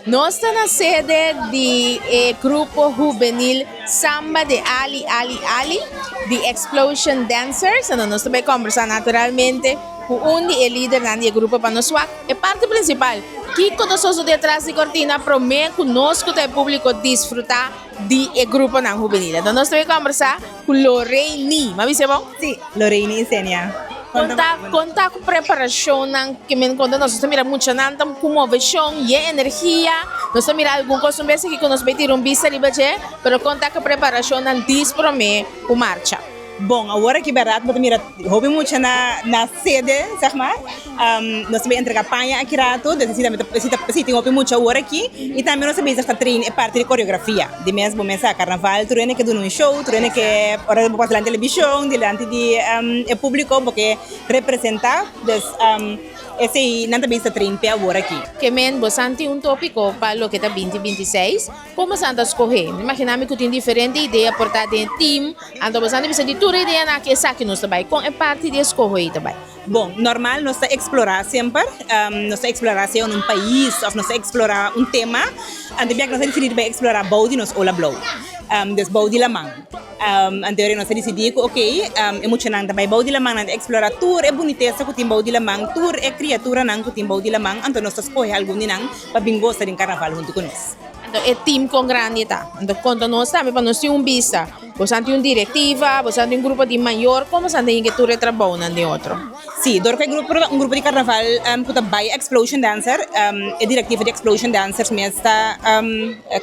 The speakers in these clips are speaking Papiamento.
Nos ta na sede di e grupo hubenil Samba de Ali Ali Ali, The Explosion Dancers. Enton nos ta bai kombersá naturalmente ku un di e lidernan di e grupo pa nos wak e parti prinsipal, kiko ta soso detras di kortina promé ku nos ku ta e públiko disfrutá di e gruponan hubenil. Enton nos ta bai kombersá. Cu lo rey ni, ma bisa e bo? Si, lo rey ni insenia. Con ta, con ta cu preparacionnan que men con ta nos ta mira muchanan ta cu movecion y e energia, nos ta mira algun cos un bes aki cu nos bay tira un bista riba dje, pero con ta cu preparacionnan dis prome cu marcha? Bon, awor aki berdad bo ta mira hopi muchanan na cede, zeg mas. Nos ta entrega paña aki rato, nos ta nesesita, si tin hopi mucha wor aki, y tambe nos ta bezig ta train e parti di coreografia, di mes bo mes sa carnaval tur hende ke duna un show, tur hende ke ora bo pas delanti televishon, delanti di e publico bo ke representa, pues esei nan ta bezig ta train p'e awor aki. Ke men bo san tin un topico pa loke ta binti binti seis? Como san ta scohe? Mi imagina mi cu tin diferente idea por ta den e team, anto bo san ta bisa di tur e ideanan aki esaki nos ta bay, con e parti di e scoho ey ta bay. Bon, normal nos ta eksplorá semper, nos ta eksplorá sea un pais òf nos ta eksplorá un tema, anto biak nos a disidí di bai eksplorá bou di nos ola blou, des bou di laman. Anto nos a disidí ku okey e muchanan ta bai bou di laman nan ta eksplorá tur e bunitesa ku tin bou di laman, tur e kriaturanan ku tin bou di laman, anto nos ta skohe algun di nan pa bin gosa den karnaval huntu ku nos. Anto e team kon grandi ta? Anto konta nos tambe pa nos tin un bista. Bosan tin un directiva, bosan tin un grupo di mayor, como bosan ta hende tur e trabounan den otro? Si, dor cu e grupo, un grupo di carnaval cu ta bay Xplosion Dancer, e directiva di Xplosion Dancers mes ta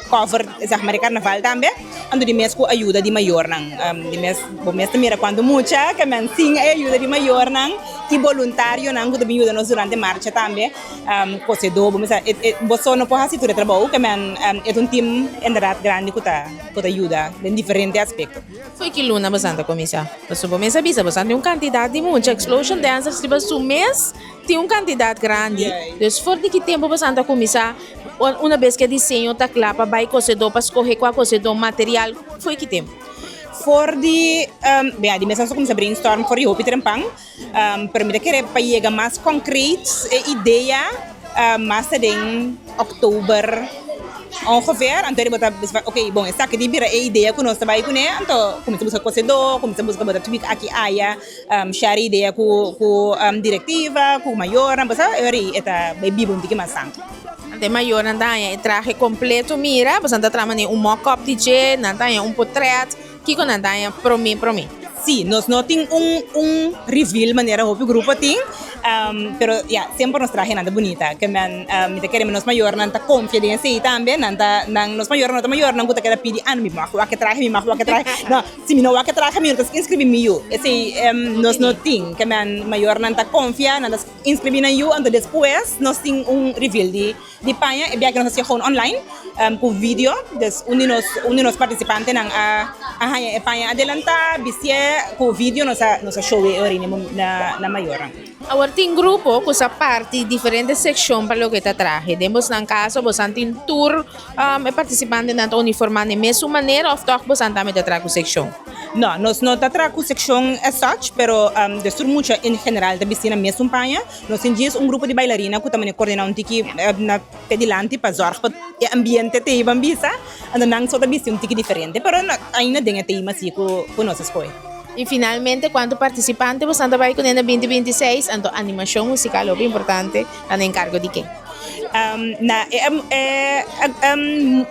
cover zeg maar e carnaval tambe, anto di mes cu ayuda di mayornan, di mes, bo mes ta mira cuanto mucha que nan sin e ayuda di mayornan y boluntarionan cu ta bin yuda nos durante marcha tambe, cosedo, bo mester, bo so no por haci tur e trabou, que nan, e ta un team inderdaad grandi cu ta. por ta yuda den diferente aspekto. Foi ki luna bosan ta kuminsá? Pasobra bo mester a bisa, bosan tin un kantidat di mucha explosion dancers riba su mes, tin un kantidat grandi. Entonces for di ki tempu bosan ta kuminsá? Una bes ke diseño ta kla pa bai kosedó pa skohe kua kosedó, material, foi ki tempu? For di, bia di mes nan su kuminsá brainstorm for di hopi trempan. Pero mi ta kere pa yega mas concreet e idea mas ta den october ongeveer anto di bo ta bisa ok bon esaki tin bira e idea ku nos ta bai kune anto kuminsa buska kosedor kuminsa buska bo ta tuik aki aya share idea ku ku directiva ku mayornan pasobra e ora y e ta bai biba un tiki mas san. Anto e mayornan ta haña e trahe completo mira boso nan ta traha mane un mock up di dje nan ta haña un potret Kiko nan daña promé promé? Sí, nos no tin un un reveal manera hopi grupo tin, pero ya semper nos trahenan ta bunita, ke nan mi ta kere mi nos mayornan ta konfia den esei tambe, nan ta nan nos mayornan no ta mayornan ku ta keda pidi ano mi mag wak e trahe mi mag wak e trahe, no si mi no wak e trahe mi no ta inskribí mi yu, esei nos no tin, ke nan mayornan ta konfia nan ta inskribí nan yu, anto despues nos tin un reveal di Di paña e biaha nos a siagon online cu video dus un di nos participantenan a haña e paña adelanta bistié cu video nos a showe e orini na mayornan. Awor tin grupo cu sa parti diferente seccion pa loke ta trahe. Den bosnan caso bosan tin tur e participantenan ta uniforma den mesun manera of toch bosan tambe ta traha cu seccion? No, nos no ta traha cu seccion as such pero dus tur mucha en general ta bisti na mesun paña. Nos tin djis un grupo di bailarina cu ta mane cordena un tiki na p'e dilanti pa zorg pa e ambiente teiba bisa, anto nan so ta bisti un tiki diferente pero ainda den e tema si cu nos a scoge. Y finalmente cuanto participante bosan ta bay cune na binti binti y seis, anto animacion musical hopi importante ta na encargo di ken? Na e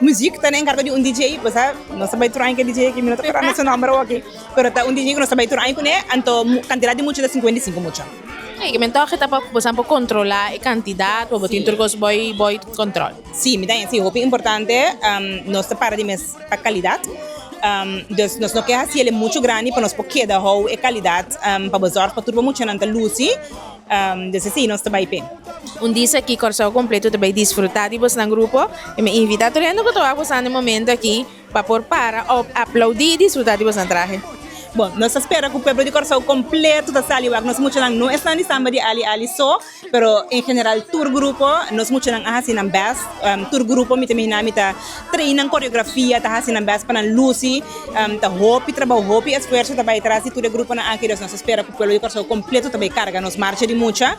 muziek ta na encargo di un DJ, bosa no ta bay tur aña cu e DJ aki mi no ta acordame su nomber awoki pero ta un DJ cu nos ta bay tur aña cune anto cantidad di mucha ta cincuenta y cinco mucha. Ei, men tòg ta pa bosan por kontrolá e kantidat ku bo tin tur kos bo i bo i kontrol. Sí, mi ta hende si hopi importante nos ta para di mes pa kalidat, dus nos no ke hasiel e muchu grandi pa nos por keda hou e kalidat pa bo zòrg pa tur bo muchanan ta lusi, dus esei nos ta bai p'e. Un dis aki Kòrsou kompletu ta bai disfrutá di bosnan grupo i mi invitá tur hende ku ta wak bosan e momentu aki. Pa por para òf aplaudí disfrutá di boso trahe. Bon, nos ta spera ku pueblo di Kòrsou kompleto ta sali wak. Nos muchanan no esnan di samba di ali ali so, pero en general tur grupo nos muchanan a hasi nan bèst. Tur grupo mi ta imagina mi ta train nan koreografia, ta hasi nan bèst pa nan lusi. Ta hopi trabou, hopi esfuerso ta bai tras di tur e gruponan aki. Nos ta spera ku pueblo di Kòrsou kompleto ta bai karga nos marcha di mucha,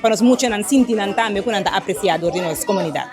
pa nos muchanan sinti nan tambe ku nan ta apresiá dor di nos komunidat.